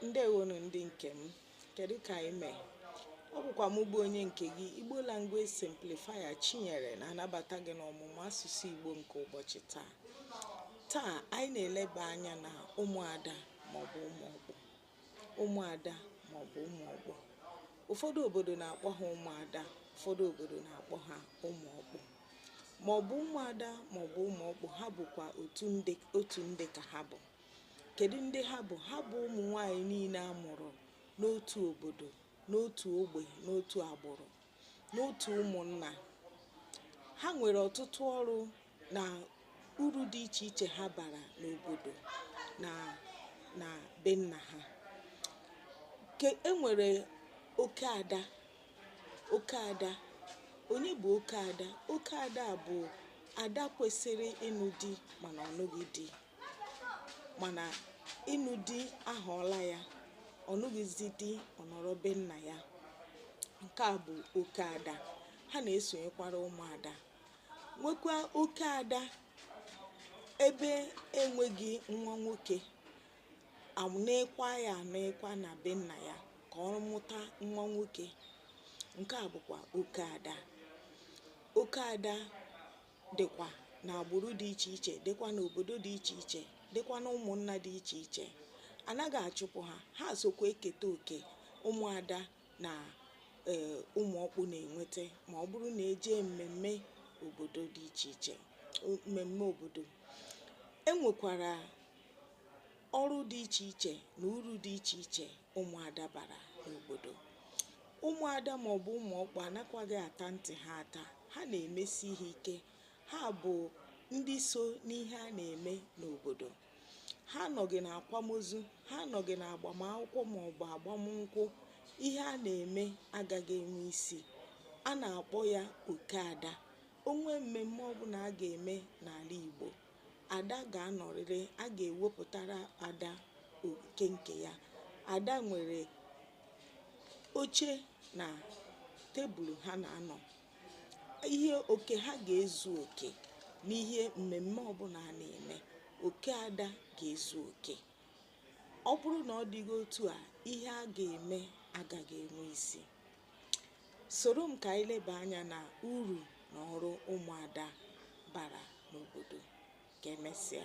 ndewonu ndị nke m kedu ka anyị mee ọ bụkwa m bụ onye nke gị igbo language simplifier chinyere na-anabata gị n'ọmụmụ asụsụ igbo nke ụbọchị taa taa anyị na-eleba anya na ụmụada maọbụ ụmụọkpụ ụmụada maọbụ ụmụọkpụ ụfọdụ obodo na-akpọ ha ụmụada ụfọdụ obodo na-akpọ ha ụmụọkpụ maọbụ ụmụada maọbụ ụmụọkpụ ha bụkwa otu ndị ka ha bụ kedu ndị ha bụ ha bụ ụmụ nwanyị niile a mụrụ n'otu obodo n'otu ogbe n'otu agbụrụ n'otu ụmụnna ha nwere ọtụtụ ọrụ na uru dị iche iche ha bara n'obodo na na be nna ha e nwere oke ada oke ada onye bụ oke ada oke ada bụ ada kwesịrị ịnụ di mana ọ nụghị di mana ịnụ di ahọọla ya ọ nụghịzi di ọ nọrọ be nna ya nke a bụ oke ada ha na-esonyekwara ụmụada nwekwa oke ada ebe enweghị nwa nwoke anekwa ya anekwa na be nna ya ka ọ mụta nwa nwoke nke a bụkwa oke ada oke ada dịkwa n'agbụrụ dị iche iche dịkwa n'obodo dị iche iche dịkwa na ụmụnna dị iche iche anaghị achụpụ ha ha sokwa eketa oke ụmụada na ee ụmụọkpụ na-enweta ma ọ bụrụ na e jee mmemme obodo dị iche iche mmemme obodo e nwekwara ọrụ dị iche iche na uru dị iche iche ụmụada bara n'obodo ụmụada maọbụ ụmụọkpụ anakwaghị ata ntị ha ata ha na-emesi ihe ike ha bụ ndị so n'ihe a na-eme n'obodo ha anọghị na akwamozu ha anọghị na agbamakwụkwọ maọbụ agbamnkwụ ihe a na-eme agaghị enwe isi a na-akpọ ya oke ada o nwee mmemme ọbụna a ga-eme n'ala Igbo ada ga-anọrịrị a ga-ewepụtara ada oke nke ya ada nwere oche na tebụl ha na-anọ ihe oke ha ga-ezu oke n'ihe mmemme ọbụna a na-eme oke ada ga-ezu oke ọ bụrụ na ọ dịghị otu a ihe a ga-eme agaghị enwe isi soro m ka anyị leba anya na uru na ọrụ ụmụada bara n'obodo ka emesịa